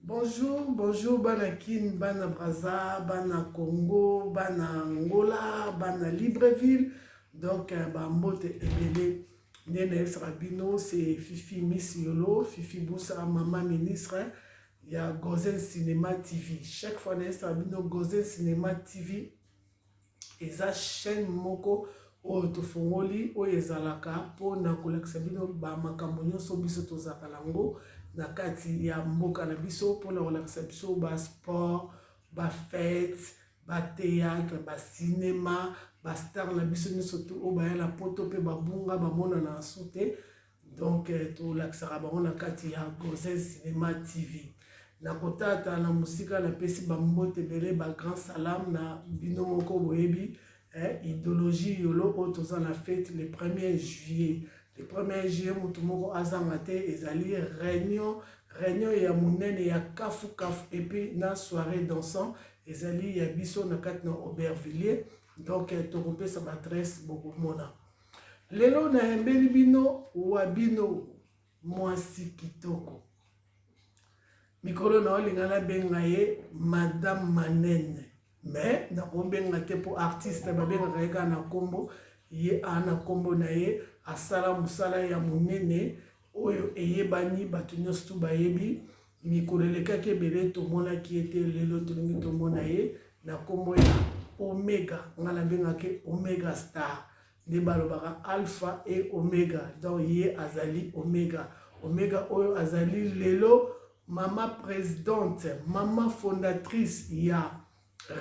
Bonjour, bonjour bana Kin, bana Brazza, bana Congo, bana Angola, bana Libreville. Donc euh, ba mbote ebele nde nayebisaka bino c'est Fifi Miss Yolo, Fifi Busa, mama ministre ya Gozen Cinema TV. Chaque fois nayebisaka bino Gozen Cinema TV Eza chaine moko oyo tofongoli oyo ezalaka po na kolakisa bino ba makambo nionso biso tozalaka nango na kati ya mboka na biso po na kolakisa biso ba sport, ba fete, ba theatre, ba cinema, ba star na biso nionso tout oyo baya na poto pe babunga bamonana na sous te. donc euh, tolakisaka bango na kati ya gozel cinema tv na kotata na mosika napesi bambote ebele bagrand salam na bino moko boyebi eh, idéologie yolo oyo toza na fete le 1er juillet le 1er juillet moto moko azanga te ezali réunion réunion ya monene ya kafu kafu epuis na soirée dansant ezali ya biso na kati na aubervillier donc eh, tokopesa baadresse bokomona Lelo nayembeli bino wa bino mwasi kitoko. Mikolo na olinga nabenga ye Madame Manene mais nakobenga te mpo artiste babengaka ye kaka na nkombo ye a na nkombo na ye asala mosala ya monene oyo eyebani bato nyonso tu bayebi Mikolo elekaki ebele tomonaki ye te lelo tolingi tomona ye na nkombo ya omega ngai nabengaki omega star nde balobaka alpha e omega donc ye azali omega omega oyo azali lelo mama presidente mama fondatrice ya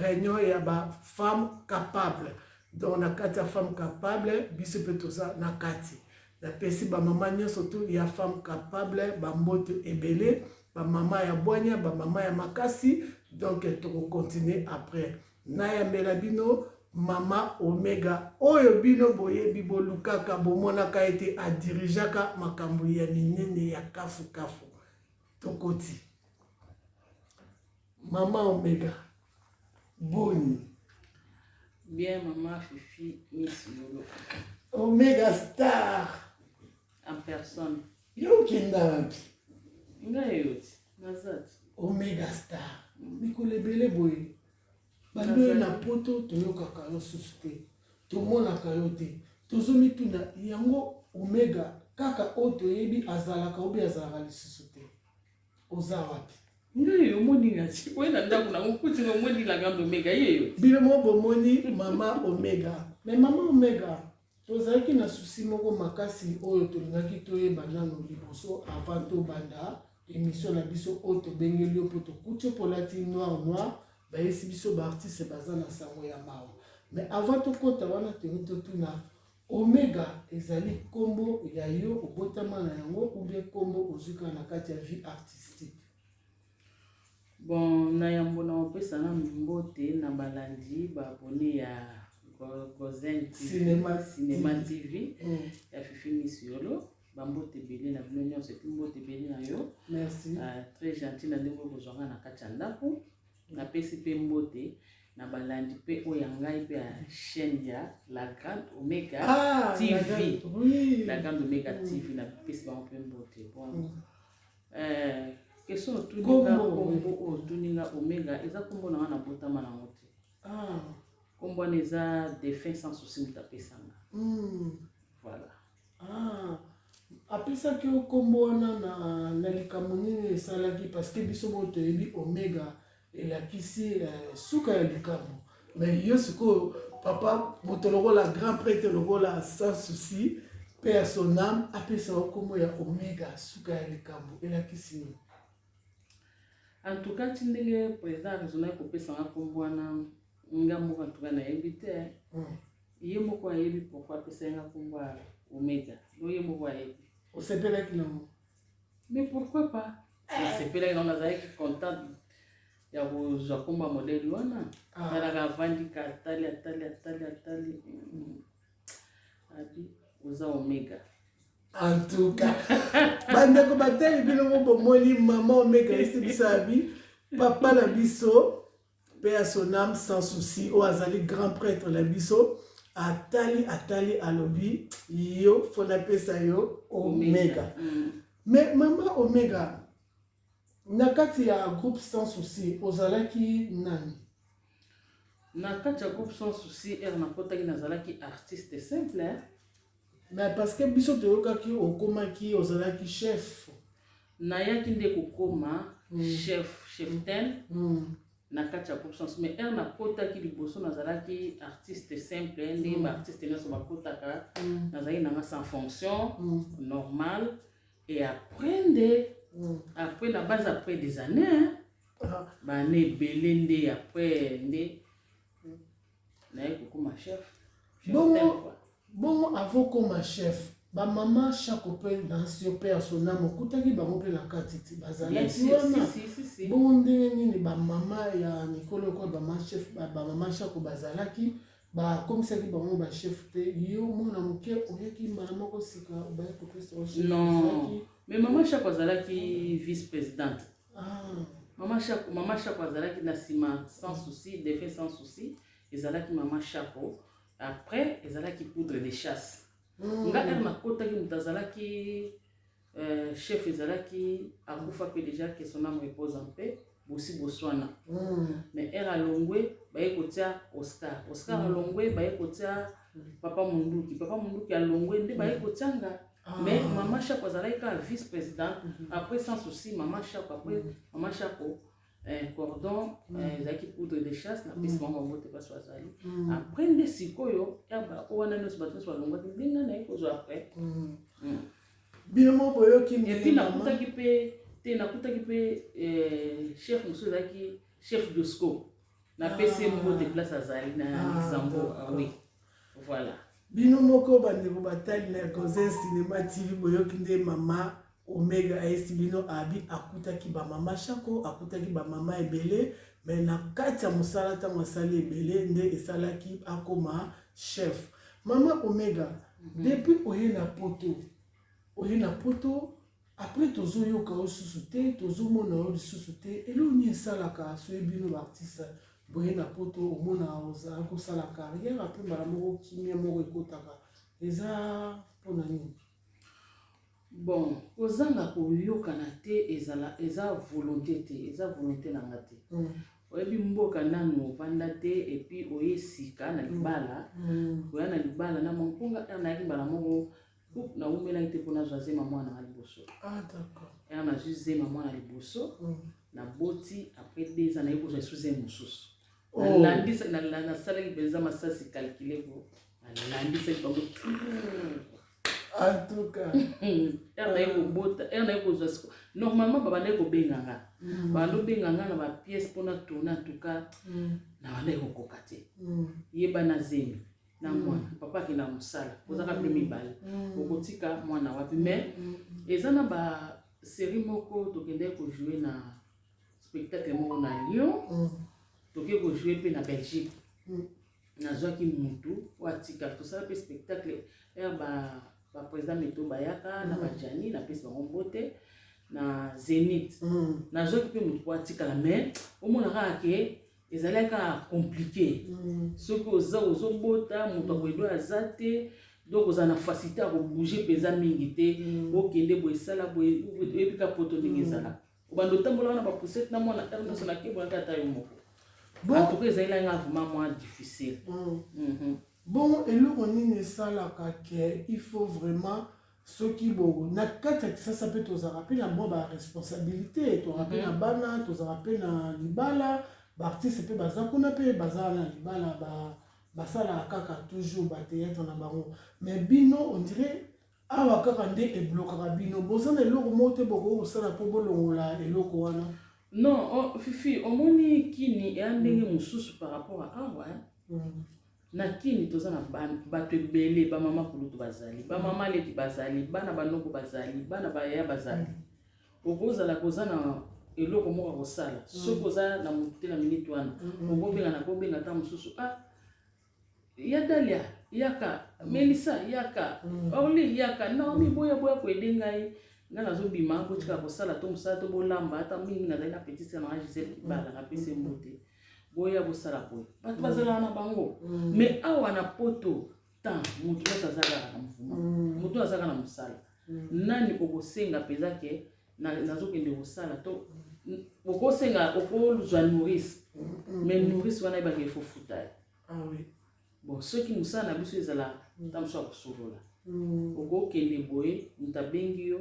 reunion ya ba femme capable donc na kati ya femme capable biso mpe toza na kati napesi bamama nyonso tu ya femme capable bamboto ebele bamama ya bwania bamama ya makasi donc tokokontinue après nayambela bino mama omega oyo bino boyebi bolukaka bomonaka ete adirigeaka makambo ya minene ya kafukafu tokoti mama omega boni bien mama fifi miss lolo omega star en personne yo okenda wapi ngai yoti nazati omega star mikolo ebele boye Baloye na poto toyokaka yo susu te tomonaka yo te tozomituna yango omega kaka oyo toyebi azalaka obi azalaka lisusu te oza wapi ngai omoni nati oye na ndako nango kuti omoni la grande omega yeyo bino mo bomoni mama omega me mama omega Tozalaki na souci moko makasi oyo tolingaki toyeba nano liboso avant tobanda emission na biso oyo tobengeli yo mpo tokuti yo mpo olati noir noir bayesi biso baartiste baza na sango ya mawa mais avant tokota wana toyei totuna omega ezali nkombo ya yo obotama na yango oubien nkombo ozwika na kati ya vie artistique Bon, na yambo na opesa nanu mbote na balandi ba abonne ya Gozen Cinema, Cinema TV mm. ya Fifi Miss Yolo bambote ebele na bino nyonso epi mbote ebele na yo ah, très gentil na ndenge okozwa ngai na kati ya ndako napesi mpe mbote na balandi mpe oyo ya ngai mpe ya chaîne ya la grande omega ah, tv la grande omega tv napesi bango mpe mbote bon mm. Eh, question otuni nga Kombo. kombo oyo otuni nga omega eza kombo na nga nabotama na yango te Ah. kombo wana eza défunt sans souci moto apesa nga Mm. voilà Ah. apesaki yo nkombo wana na, na likambo nini esalaki parce que biso moko toyebi omega elakisi eh, suka ya likambo mais yo sikoyo papa moto lokola grand prêtre lokola sans souci mpe ya son ame apesa yo nkombo ya omega suka ya likambo elakisi nini en tout cas ti ndenge président aresonaki kopesa nga nkombo wana nga moko en tout cas nayebi te hmm. ye moko ayebi pourkoi apesaki nga nkombo ya omega donc ye moko ayebi osepelaki nango Mais pourquoi pas Nasepelaki nango nazalaki contente ya kozwa nkombo ya modele wana talaka avandi ka atali atali atali atali abi oza omega en tout cas bandeko batali bino mo bomoni mama omega esi biso abi papa na biso Paix à son âme sans souci oyo azali grand prêtre na biso atali atali alobi yo fo napesa yo omega mm. mais mama omega na kati ya groupe sans souci ozalaki nani na kati ya groupe sans souci ere nakotaki nazalaki artiste simple Mais parce que biso toyokaki okomaki ozalaki chef. Nayaki nde kokoma mm. chef cheftaine mm. na kati ya groupe sens mais heure nakotaki liboso nazalaki artiste simple ndenge mm. baartiste nyonso bakotaka mm. nazalaki nanga sans fonction mm. normal et après nde mm. après na base après des années hein, ah. baane ebele nde après nde bongo bongo avokoma chef bamama chaque mpe danse mpe ya sonamo okutaki bango mpe na kati ti bazalaki wana bongo ndenge nini bamama ya mikolo okoyo bamachef bamama chaque bazalaki bakomisaki bango bachef te yo mwana moke oyaki mbala moko sika obaye kopesa non mais mama chaque azalaki vice présidente Mama Shako, Mama Shako azalaki na sima sans souci, defe sans souci, ezalaki Mama Shako. Après ezalaki poudre de chasse. Mm. Nga er nakotaki moto azalaki euh, chef ezalaki akufa mpe déjà que son âme repose en paix bosi boswana mm. mais er alongwe baye kotia oscar oscar mm. alongwe baye kotia papa munduki papa munduki alongwe nde baye kotia nga Ah. Mais maman Chapo azalaki kaka vice président mm -hmm. après sans souci maman Chapo après mm -hmm. maman Chapo eh, cordon mm. eh, ezalaki mm. eh, poudre de chasse na pesi mama yango te baso azali mm. après nde sikoyo yaba o wana nyonso bato nyonso balongwaki ndenge naye kozwa après mm. mm. bino moko boyoki epuis nakutaki mpe te nakutaki mpe eh, chef mosusu ezalaki chef dosco Na pesi ah. mbote place azali na ah, Luxembourg. Ah oui. Voilà. Bino moko bandeko batali na Gonzen Cinema TV boyoki nde mama Omega ayesi bino abi akutaki ba mama Shako akutaki ba mama ebele mais na kati ya mosala ntango asali ebele nde esalaki akoma chef. Mama Omega mm -hmm. depuis oye na poto oye na poto Après tozo yoka yo lisusu te, tozo mona yo lisusu te. Eloko nini esalaka soki bino ba artistes boye na poto omonaka ozala kosala carrière après mbala moko kimia moko ekotaka. Eza pona nini? Bon, kozanga koyokana te ezala eza volonte te, eza volonte na nga te. Mm. oyebi mboka nanu ovanda te epuis oye sika na libala mm. oya na libala na mamponga nayaki mbala moko Ouh, na wumelaki te mpo nazwa zema mwana nanga liboso Ah, d'accord. ere nazwi zema mwana liboso Mm. naboti après deux ans naye kozwa esu zema mosusu Oh. Nalandisa- na- na- nasalaki mpenza masasi calcule po nalandisaki bango En tout cas. ere naye kobota ere naye kozwa siko normalement babandaki kobenga nga Mm. banda obenga nga na bapièce mpo na tourne en tout cas Mm. nabandaki kokoka te Mm. yeba na zemi na mwana papa akenda na mosala ozaka bino mibale okotika mwana wapi mais eza na ba série moko tokendaki kojoue na spectacle moko na lyon toke kojoue mpe na belgique nazwaki motu oyo atika tosala mpe spectacle ere baprésident meto bayaka na bajani napesi bango mbote na zenith nazwaki mpe motu oyo atikala mais omonaka ake ezalaki kaka compliqué soki oza ozobota moto akoyebi oyo aza te donc oza na facilité ya kobouge mpenza mingi te mm. okende boye esala boye oyebi ka poto ndenge mm. ezalaka obanda otambola wana bapusete na mwana ntango nyonso nakebolaka ata yo moko antuka ezalaki nanga vraiment mwa difficile mm. mhm. bon eloko nini esalaka ke il faut vraiment soki bo na kati ya kisasa mpe tozalaka mpe na mwa baresponsabilité tozalaka mpe na mhm. bana tozalaka mpe na libala baartiste mpe baza kuna mpe baza na libala basalaka kaka toujours bateatre na bango mais bino ondire awa kaka nde eblokaka bino boza na eloko moko te bokoki kosala mpo bolongola eloko wana non oh, fifi omoni kini eya ndenge mhm. mosusu par rapport a awa mm. Na kin toza na batu ebele ba maman kulutu bazali ba maman leki bazali bana ba noko bazali bana ba yaya bazali okozala koza na eloko moko akosala mm. soki oza na motu te na minute wana mm-hmm. okobenga na kobenga ata mosusu a ah, ya dalia yaka mm. melisa yaka mm. orli yaka naomi boya boya koede ngai ngai nazobima botika kosala to mosala to bolamba ata mingi nazali na petite na ngai gisele kibala napesi mbote boya bosala boye bato bazalaka na bango mais mm. awa na poto temps moto nyonso aza kaka na mvuma mm. moto aza kaka na mosala mm. nani okosenga mpenza ke nazokende kosala to okosenga okozwa nourrice mais nourrice wana ebaki efofuta ye ah bon soki mosala na biso ezala ntango mosusu ya kosolola okokende boye moto abengi yo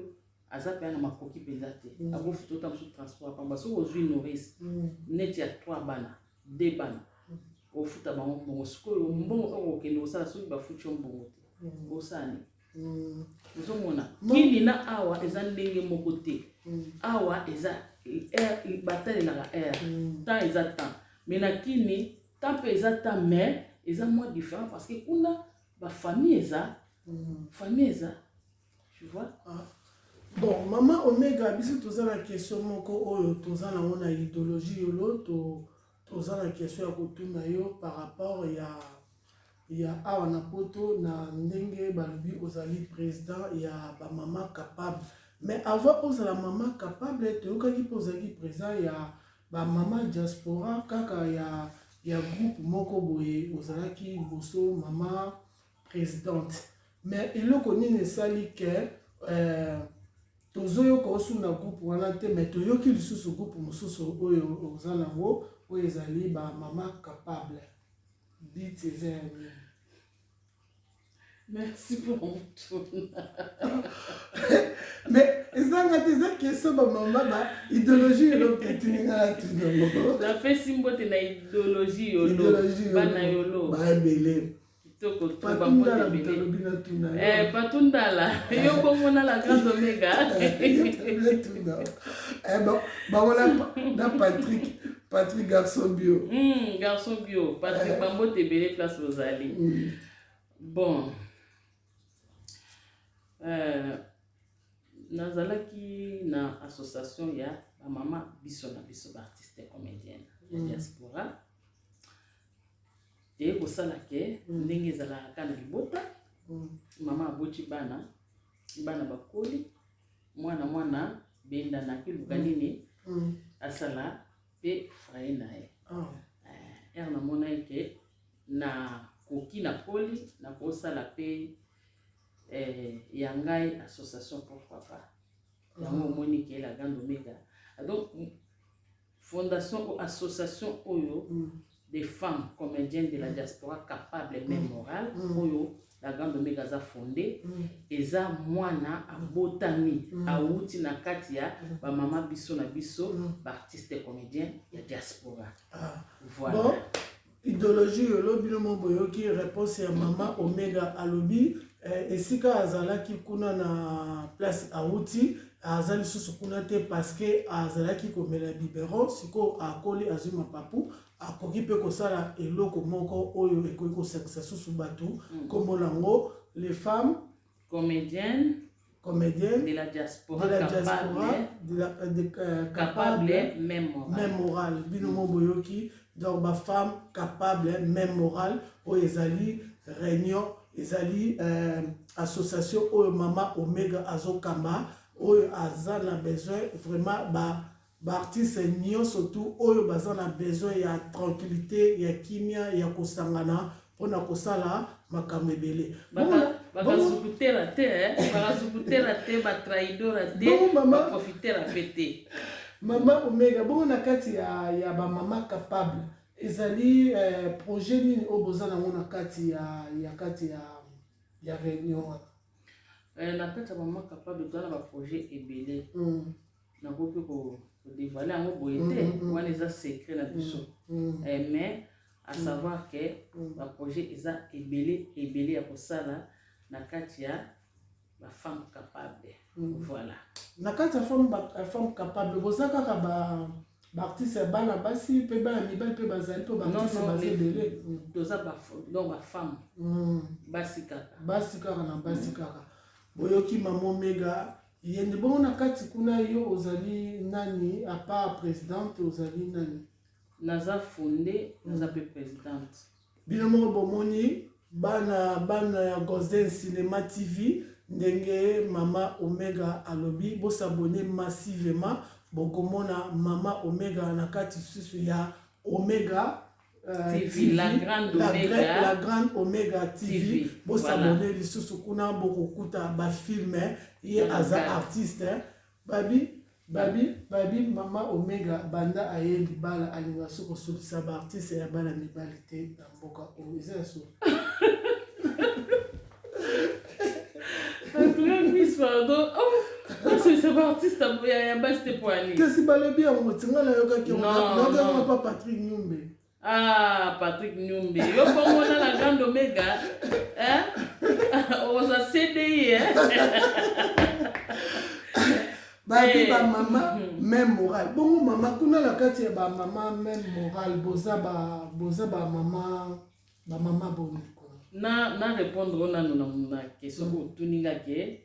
aza mpe na makoki mpenza te mm. akofi tota mosusu transport pamba soki ozwi nourrice mm. neti ya trois bana de bana mm. ofuta bango mbongo sikoyo mbongo oyo kokende kosala soki bafuti yo mbongo te osani ozomona kini na awa eza ndenge moko te awa eza batalelaka air temps eza temps mai na kini temps mpe eza temps mai eza mwa différent parce que kuna bafamille eza famille eza Tu vois? Ah. Bon, maman Omega, biso toza na question moko oyo toza na ngo na idéologie yolo to toza na question ya kotuna yo par rapport ya ya awa na poto na ndenge balobi ozali président ya ba maman capable mais avant ozala maman capable toyokaki mpe ozalaki président ya ba maman diaspora kaka ya ya groupe moko boye ozalaki liboso maman presidente mais eloko nini esali ke euh, tozoyoka osu na groupe wana te mais toyoki lisusu groupe mosusu oyo oza nango oyo ezali bamama capable dit eza ya nini merci pour motuna mais ezanga te eza keso bamama ba idéologie yolo ketiningana tunango napesi mbote na idéologie yolo bana yolo baebele Kitoko tu ba mbote bele. Eh patundala yo bongo na la grande omega. Eh ba ba wala na Patrick Patrick garçon bio. Hmm garçon bio Patrick eh. ba mbote bele place ozali. Hmm. Bon. Euh, nazalaki na association ya bamama biso na biso baartiste comédienne ya mm. diaspora eye kosala ke mm. ndenge ezalaka kaka na libota mm. mama aboti bana bana bakoli mwana mwana bendanaki luka mm. nini asala mpe fraye na ye oh. eh, ere namona ete nakoki nakoli nakosala mpe eh, ya ngai association pourquoi pas yango oh. omoni ke la grande omega donc Fondation ou association oyo mm. des femmes comediennes de la mm. diaspora capable mm. mais morale mm. oyo la grande omega aza fonde mm. eza mwana abotami mm. awuti na kati ya mm. bamama biso na biso mm. baartiste comédien ya diaspora ah. voilà bon. Idologie yo lobi bino mo boyoki reponse ya mama Omega alobi eh, esika azalaki kuna na place awuti aza lisusu kuna te parceke azalaki komela biberon sikoyo akoli azwi mapapu akoki mpe kosala eloko moko oyo ekoki kosangisa susu bato nkombo mm. nango les femmes Comedienne. Comedienne. De la diaspora. De la diaspora. De la, euh, de, euh, capable, capable, même morale. Même morale. Bino mo boyoki. Donc, ma femme capable, même morale. Oyo ezali réunion, ezali euh, association oyo mama Omega azokamba, oyo aza na besoin vraiment ba B'artistes nionso tout oyo baza na besoin ya tranquillite, ya kimia, ya kosangana mpo na kosala makambo ebele. Bongo na. Bakazukutela te eh, bakazukutela te, ba trahidora te, ba profitela mpe te. Mama Omega, bongo na kati ya, ya ba mama capable ezali eh, projet nini oyo boza nango na kati ya, ya kati ya, ya reunion wana? Eh, na kati ya mama capable toza na baprojet ebele mm. nakoki mpe kodevoile yango boye mm, te mm, wana eza secret na biso eh, mais à savoir ke baprojet eza ebele ebele ya kosala na kati ya bafemme capable voilà na kati ya femme capable boza kaka ba B'artistes ya bana basi pe bana mibali pe bazali po b'artistes baza ebele. Toza ba donc ba femmes. Mm. Basi kaka. Basi kaka na basi mm. kaka. Boyoki mama Omega yende bongo na kati kuna yo ozali nani à part présidente ozali nani? Naza fondée, naza pe présidente. Bino moko bomoni bana bana ya Golden Cinema TV ndenge mama Omega alobi bo s'abonner massivement bokomona mama Omega na kati susu ya Omega Euh, TV, TV, la grande la Omega, gra la grande Omega TV, TV. bosabone voilà. lisusu kuna bokokuta bafilme ye aza artiste Babi babi babi maman omega banda aye libala alinga su kosulisa ba artiste ya bana mibali te na mboka oyo eza ya solo pardon oh basolisa ba artiste ya basi te po alinga kasi balobi yango tinga nayokaki yango nayokaki yango pa patrick nyumbe Ah, Patrick Nyumbi, yo bongo na la grande omega, hein? Oza CDI, hein? babi eh. ba mama mhm. même morale bongo mama kuna na kati ya ba mama même morale boza ba boza ba mama ba mama boni na na répondre ona nuna muna question ko tuninga ke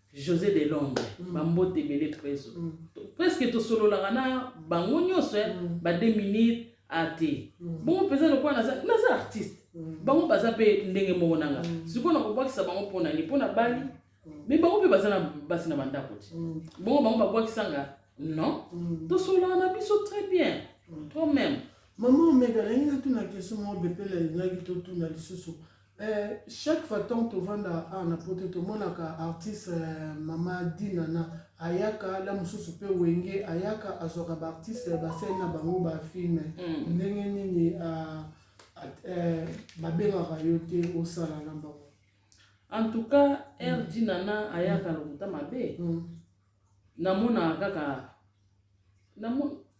Jose de Londres mm. bambote ebele preso mm. presque tosololaka na bango nyonso eh, mm. ba deux minutes ate mm. bongo mpenza lokola naza, naza artiste mm. bango baza mpe ndenge moko na nga mm. sikoyo nakobwakisa bango mpo na nini mpo na bali mm. me bango mpe baza na basi na bandako ti mm. bongo bango babwakisa nga non mm. tosololaka na biso très bien mm. toi même mama omega nalingi natuna question moko bepele alingaki totuna lisusu Eh, chaque fois tant tovanda ah, na poto tomonaka artiste eh, mama dinana ayaka la mosusu mpe wenge ayaka azwaka baartiste basali na bango bafilme mm. ndenge nini ah, eh, babengaka yo te osala na bango en tout cas r mm. dinana ayaka lokuta mabe mm. namonaka kaka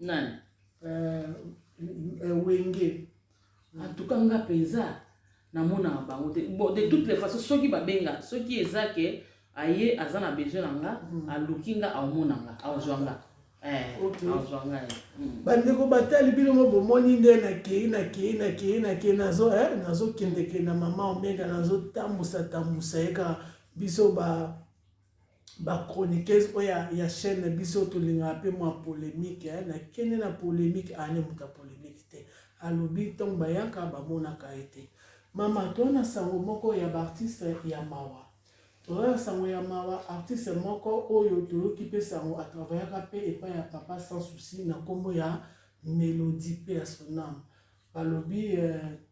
nani euh, wenge en tout cas nga mpenza namonaka bango te bon de toutes les façons soki babenga soki eza ke aye aza na besoin na nga mm. aluki nga aomona nga aozwa nga eh, aozwa nga eh. mm. bandeko batali bino mo bomoni nde nakei nakei nakei nakei nazo eh, nazokendeke na mama omega nazotambusa tambusa ye kaka biso ba Ba chroniqueuse oyo ya, ya chaîne na biso tolingaka pe mwa polemique eh, na kende na polemique ah ne muta polemique te alobi ntango bayaka bamonaka ye te mama toza na sango moko ya baartiste ya mawa toza na sango ya mawa artiste moko oyo toyoki pe sango atravayaka pe epai ya papa sans souci na nkombo ya melodie pe ya sonam balobi eh,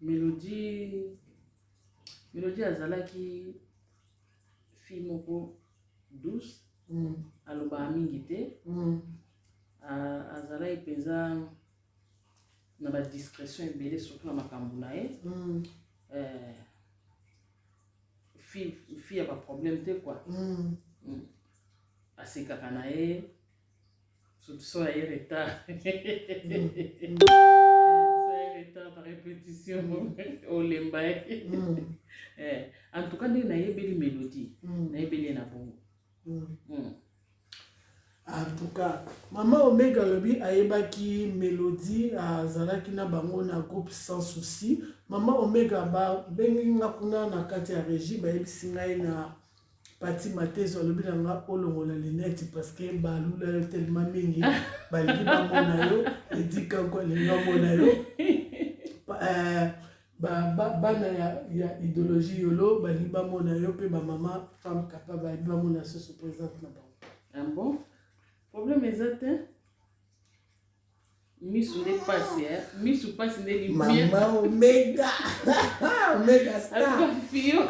Melodie Melodie azalaki fille moko douce mm. alobaka mingi te mm. azalaki mpenza na badiscrétion ebele surtout na makambo na ye mm. eh, fille ya baproblème te kua mm. mm. asekaka na ye Sotuso aye retard. retard na repetition olemba ye en tout cas ndenge nayebeli melodie nayebeli ye na bongo en tout cas mama omega alobi ayebaki melodie azalaki na bango na groupe sans souci mama omega babengi nga kuna na kati ya régie bayebisi ngai na Pati Matezo alobi na nga olongola lunette parce que balula yo tellement mingi balingi bamona yo edika ko alingi bamona yo euh, bana ya, ya idéologie yolo balingi bamona yo mpe bamama femme capable balingi bamona susu présente na bango ah bon problème eza te misu nde pasi eh? misu pasi nde limama omega omega starfio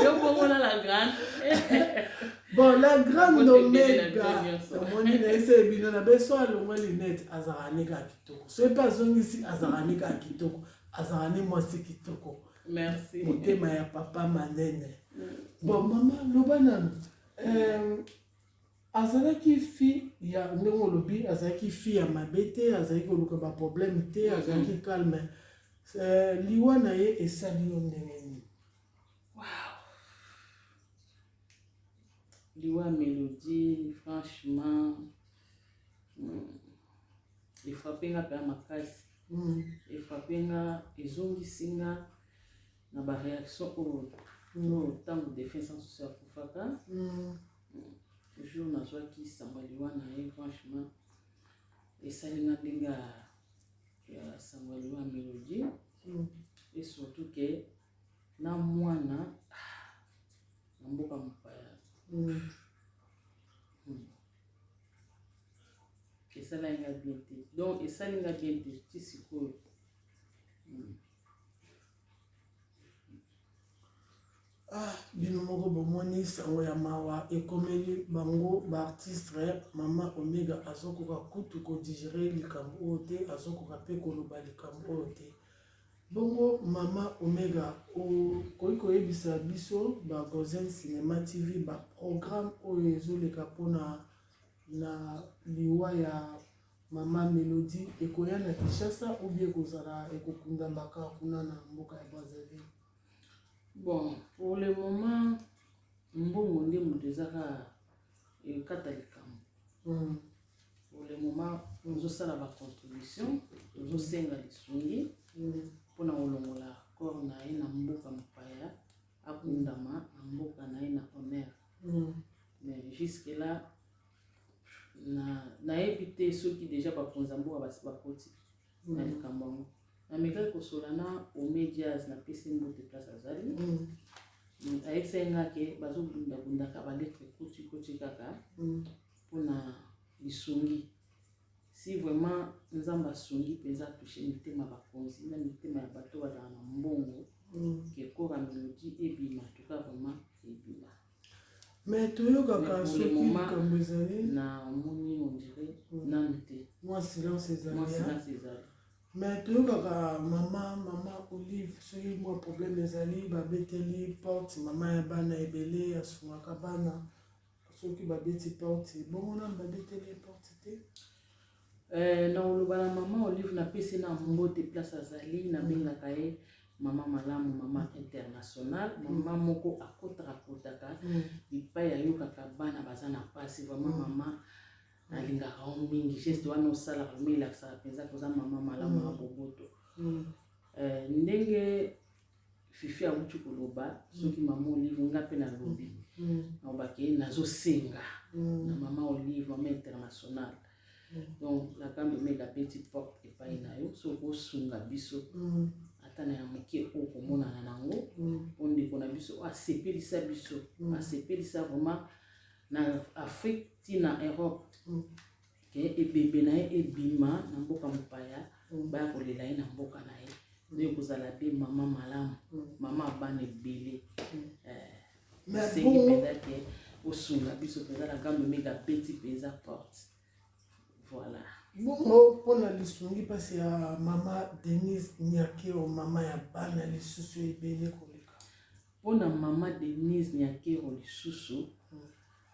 yobongola la grande bon la grande omega omoni na ese bino na beso alongwa linete azalaka ne kaka kitoko soki mpe azongisi azalaka ne kaka kitoko azalaka ne mwasi kitoko merci motema ya papa manene mm. bon mama loba nanu euh, Azalaki fille ya ndenge olobi azalaki fille ya mabe te azalaki koluka ba problème te azalaki mm. calme euh, liwa na ye esali yo ndenge nini wow. liwa melodie franchement mm, efrape nga mpe ya makasi mm. efrape nga ezongisi nga na baréaction oyo ntango defense en sosi akufaka jour nazwaki sango liwa na ye franchement esali nga ndenge ya sango liwa melodie mm. et surtout ke na mwana na mboka mopaya mm. mm. esalaki nga bien te donc esali nga bien te ti sikoyo mm. Ah bino moko bomoni sango ya mawa ekomeli bango ba artistre mama omega azokoka kutu ko digere likambo oyo te azokoka pe koloba likambo oyo te bongo mama omega okoki koyebisa biso ba voisin cinema tv ba programme oyo ezoleka mpona na liwa ya Maman Melody ekoya na Kinshasa ou bien ekozala ekokundama kaka kuna na mboka ya Brazzaville? Bon, pour le moment mbongo nde moto eza kaka ekata likambo. Mm. Pour le moment tozosala ba contribution, tozosenga lisungi Mm. mpo na kolongola corps na ye na mboka mopaya akundama na mboka na ye na honneur. Mm. Mais jusque là na nayebi te soki deja bakonzi ya mboka basi bakoti na mm. likambo yango namekaki kosola na ome jazz na pesi mbote place azali mm. mm, ayebisaki nga ke bazobundabundaka baletre koti koti kaka mpona lisungi si vraiment nzambe asungi mpenza atushe mitema bakonzi na mitema ya bato bazala na mbongo ke kora melodie ebima tuka vraiment ebima Mais toyokaka soki likambo ezali na moni on dirait hmm. nanu te mwa silence ezali mwa silence ezali mais toyokaka mama mama olive soki mwa problème ezali babeteli porte mama ya bana ebele asungaka bana soki babeti porte bongo nanu babeteli porte te Eh nakoloba na maman olive napesi ye na mbote place azali nabengaka ye mama malamu mama international mama moko akotaka kotaka bipai ayokaka bana baza na mpasi vraiment mama nalingaka yo mingi geste wana osalaka vraiment elakisaka mpenza koza mama malamu ya boboto Eh, ndenge fifi awuti koloba soki mama olive nga mpe nalobi nalobaki mm. mm. nazosenga mm. na mama olive mama international donc nakambi omeda peti porte epai na yo soki osunga biso ata na ya moke oyo komonana nango mpo ndeko na biso asepelisa biso asepelisa vraiment na afrique ti na europe ke ebembe na ye ebima na mboka mopaya mm. baya kolela ye na mboka na ye mm. nde ekozala mpe mama malamu mm. mama abana ebele nasengi eh, mpenza ke osunga biso mpenza na gambo mega apeti mpenza porte voilà bongo mpona lisungi mpasi ya mama denise nyakeo mama ya bana lisusu ebele koleka mpona mama denise nyakeo lisusu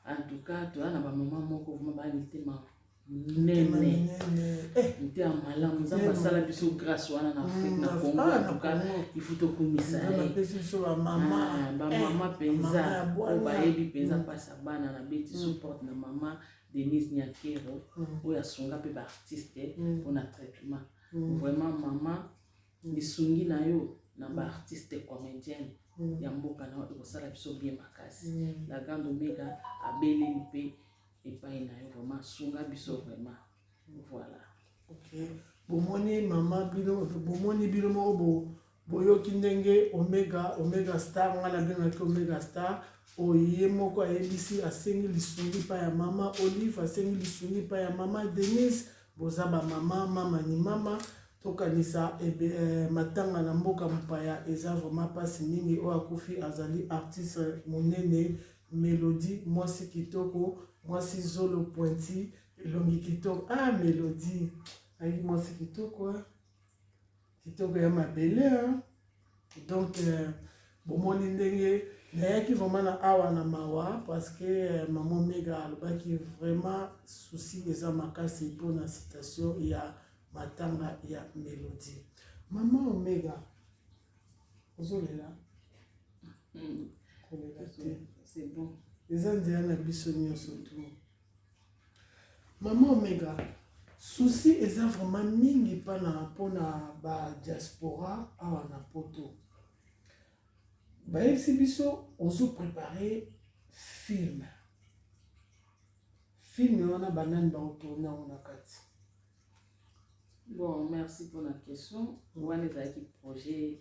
En tout cas, toza na ba moment moko vraiment ba mitema minene motema eh. malamu nzambe asala biso grâce wana na afrique na congo ah, antuka ifu tokumisa bamama mpenza oyo bayebi mpenza mpasi ya bana na beti support na mama denise nyakero oyo asunga mpe baartiste mpona traitement vraiment mama lisungi na yo na ba artistes comediens ya mboka na yo ekosala biso bien makasi la grande omega abeleli mpe epai na yo vraiment sunga biso vraiment voilà okay. bomoni mama bino bomoni bino moko bo boyoki ndenge omega omega star ngai nabengaki omega star oyo ye moko ayebisi asengi lisungi mpa ya mama olive asengi lisungi mpa ya mama denise boza bamama mama ni mama Tokanisa matanga na mboka mopaya eza vraiment pasi mingi oyo akufi azali artiste monene Melodie mwasi kitoko mwasi zolo pointi elongi kitoko ah Melodie ayi mwasi kitoko kitoko ya mabele hein donc euh, bomoni ndenge nayaki vraiment na awa na mawa parce que euh, maman mega alobaki vraiment souci eza makasi mpo na citation ya matanga ya melodie mama omega ozolela hmm. kolela te eza nzela na biso nyonso tu Maman omega souci eza vraiment mingi pana pona ba diaspora awa na poto bayebisi biso ozo prepare filme filme wana banani baotourne yango na kati bon merci mpona question wana ezalaki projet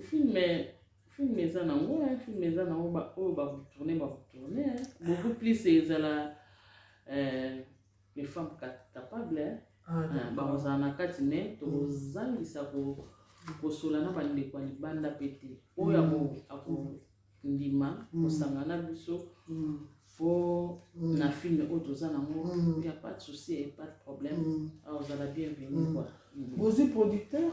Film film eza na ngo hein, film eza na ngo ba oyo ba retourner ba retourner hein. Beaucoup plus ezala euh, les femmes capables hein. Ah, ah ba ozala na kati mais mm. tozangisa ko kosola na ba ndeko ya libanda pe te. Oyo ako mm. ako ndima mm. kosanga na biso fo na film oyo toza na ngo il y a pas de souci et pas de problème. Ah ozala bienvenue quoi. Ozwi producteur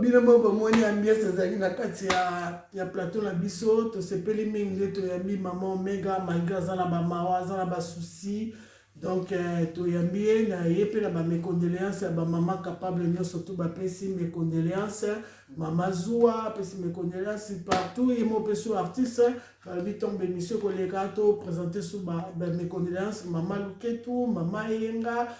bino moko bomoni ambiance ezali na kati ya, ya plateau na biso tosepeli mingi nde toyambi mama omega malgré aza na bamawa aza na basusi donc eh, toyambi ye na ye mpe na bamecondoléance ya bamama capable nyonso tu bapesi mecondoléance mama zuwa apesi mecondoléance partout ye moko mpe su artiste balobi ntongo bemission koleka topresente su bamecondoléance mama luketu mama eyenga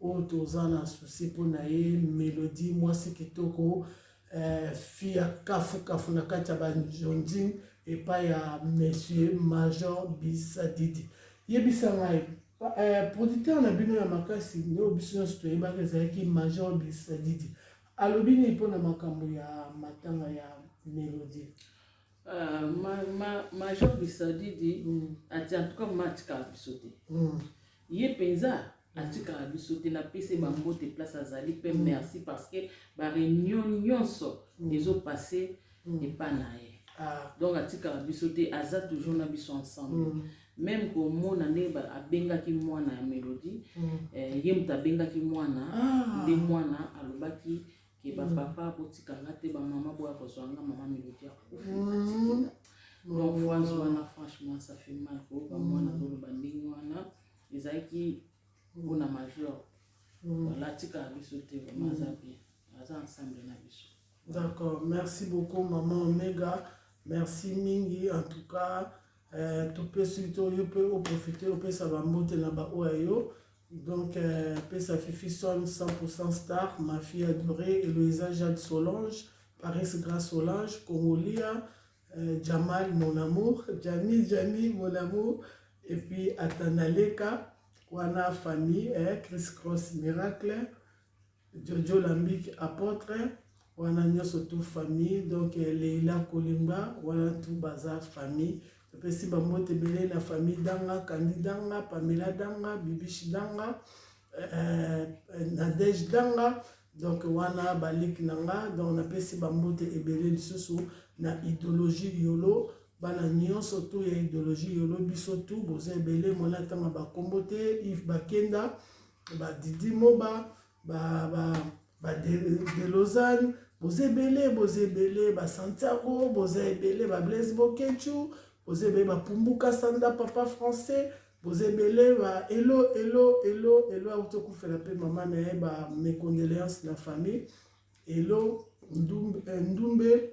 oyo toza na souci mpo na ye melodie mwasi kitoko eh, fi ya kafukafu na kati ya banjonjin epai ya monsieur major bisadidi yebisa ngai eh, producteur na bino ya makasi nde oyo biso nyonso toyebaka ezalaki major bisadidi alobi nini mpo na makambo ya matanga ya melodie Uh, ma, ma, major bisadidi mm. ati en tout cas matika biso te mm. Ye penza atikaka biso te na pese ba mbote place azali pe merci parce que ba reunion nionso ezo passe epa na ye donc atikaka biso te aza toujours na biso ensemble meme komona nde abengaki mwana ya melodie ye moto abengaki mwana nde mwana alobaki ke ba papa botika nga te ba mama boya kozwa nga mama melodi akufi atikela donc france wana franchement ça fait mal koyoka mwana azoloba ndenge wana ezalaki mpona majeur voilà atikaka biso te vraimen aza bien aza ensemble na biso d'accord merci beaucoup maman omega merci mingi en tout cas Euh, topesi to yo mpe oprofite opesa bambote na baoyo ya yo donc euh, pesa fifi son 100 star mafia adoré eloisa jade solange paris grace solange congolia euh, jamal mon amour jami jami mon amour et puis atanaleka wana famille eh, chris cross miracle Jojo Lambic Apotre wana nyoso tout famille donc Leila Kolimba wana tout baza famille topesi bambote ebele na famille Danga Kandi Danga Pamela Danga Bibishi Danga euh, Nadège Danga donc wana baliki na nga donc napesi bambote ebele lisusu na idéologie yolo bana nyonso to ya idéologie yolo biso tu boza ebele mwana atanga bakombo te ive bakenda ba didi moba ba ba ba delozane boza ebele boza ebele ba santiago boza ebele ba blaise bokechu boza ebele ba pumbuka sanda papa français boza ebele ba elo elo elo elo auti okufela mpe mama na ye ba mecondoléance na famille elo ndumbe, eh, ndumbe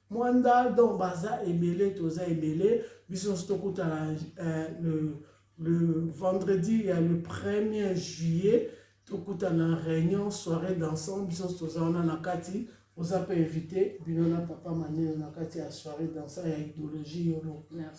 Muanda donc baza ebele toza ebele biso nionso tokutana euh, le, le vendredi ya le premier juillet tokutana réunion soirée dansant biso nionso toza wana na kati oza mpe invité bino na papa maneno na kati ya soirée dansant ya idéologie yolo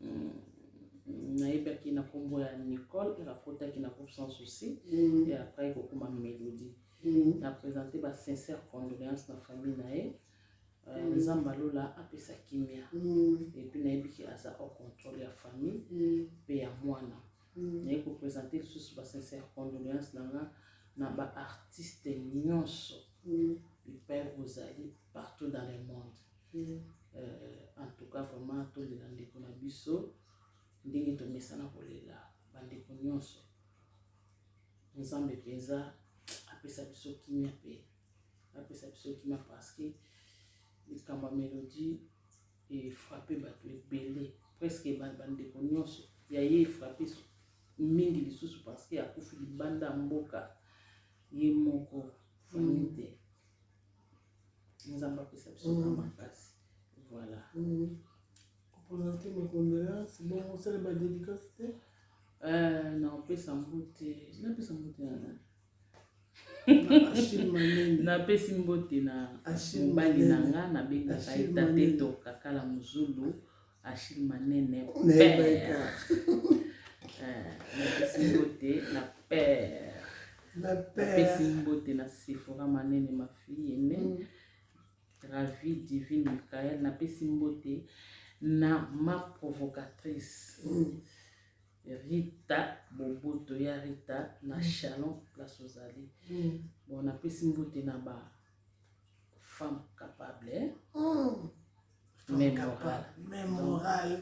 mm, nayebaki na kombo ya nicole elle akotaki na groupe sans souci mm. et après ekokoma mélodie mm. na présente ba sincère condoléance na famille na ye euh, mm. nzambe mm. alola apesa kimia mm. epuis nayebiki aza au contrôle ya famille mpe mm. ya mwana mm. naye kopresente lisusu ba sincère condoléance na nga na ba artiste nyonso mm. bipai bozali partout dans le monde Euh, en tout cas vraiment tolela ndeko na biso ndenge tomesana kolela bandeko nyonso nzambe mpenza apesa biso kimia mpe apesa biso kimia parce que likambo ya melodie efrappe bato ebele presque bandeko nyonso ya ye efrappe mingi lisusu parce que akufi libanda ya mboka ye moko famille te mm. nzambe apesa biso na makasi voilà kopresente makondoleance bongo osala badedikasi te na opesa mbote napesa mbote na nani napesi mbote na mobali na nga nabengaka ye tate toka kala mozulu Achille Manene, père. napesi mbote na père napesi mbote na sephora manene ma fille ene mm. ravi divine michael napesi mbote na ma provocatrice mm. rita boboto ya rita na mm. chalon place ozali mm. bon napesi mbote na ba femme capable eh? mm. Memorale. Memorale.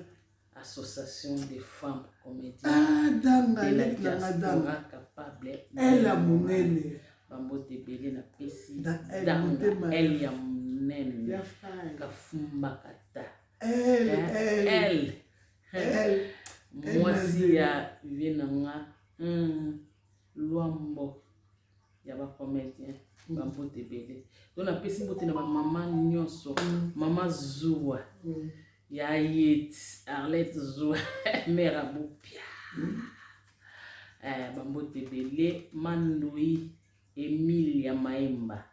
Association des femmes comédiennes. Ah, danga, de la diaspora capable. Elle a mon aile. Bambote ebele na pesi. Danga, elle ya monene. Kafumba kata. Elle, eh, elle. Elle. Mwasi ya vie na nga. Hmm. Luambo. ya ba comedien ba mbote ebele to napesi mbote na bamama nyonso mm. mama zuwa mm. ya yet arlet zuwa mare abopia mm. eh, bambote ebele mandoi emile ya maemba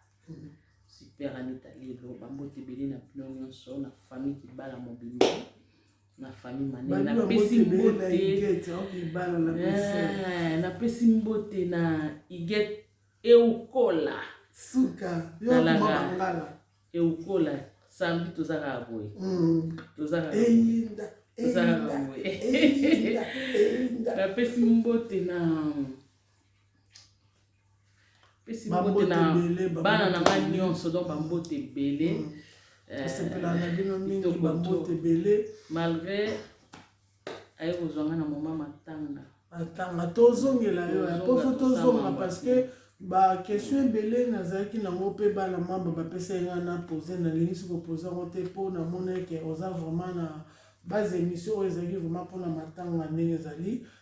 super anita lelo bambote ebele na bino nyonso na famille kibala mobimba na famille manene napesi mbote napesi mbote na igete eukola suka talaka eukola samedi toza kaka boye mm. toza kaka boye napesi mbote na pesi mbote na bana na ngai nyonso donc bambote ebele mm. eh, asepelaka na bino mingi bambote ebele malgré aye kozwa ngai na moma matanga matanga tozongela yo yaposo tozonga parce que bakestion ebele nazalaki nango mpe bana mamba bapesaki ngai na pose nalingi soki opose yango te mpo namonaki oza vraiment na base émission oyo ezalaki vraiment mpona matanga ndenge ezali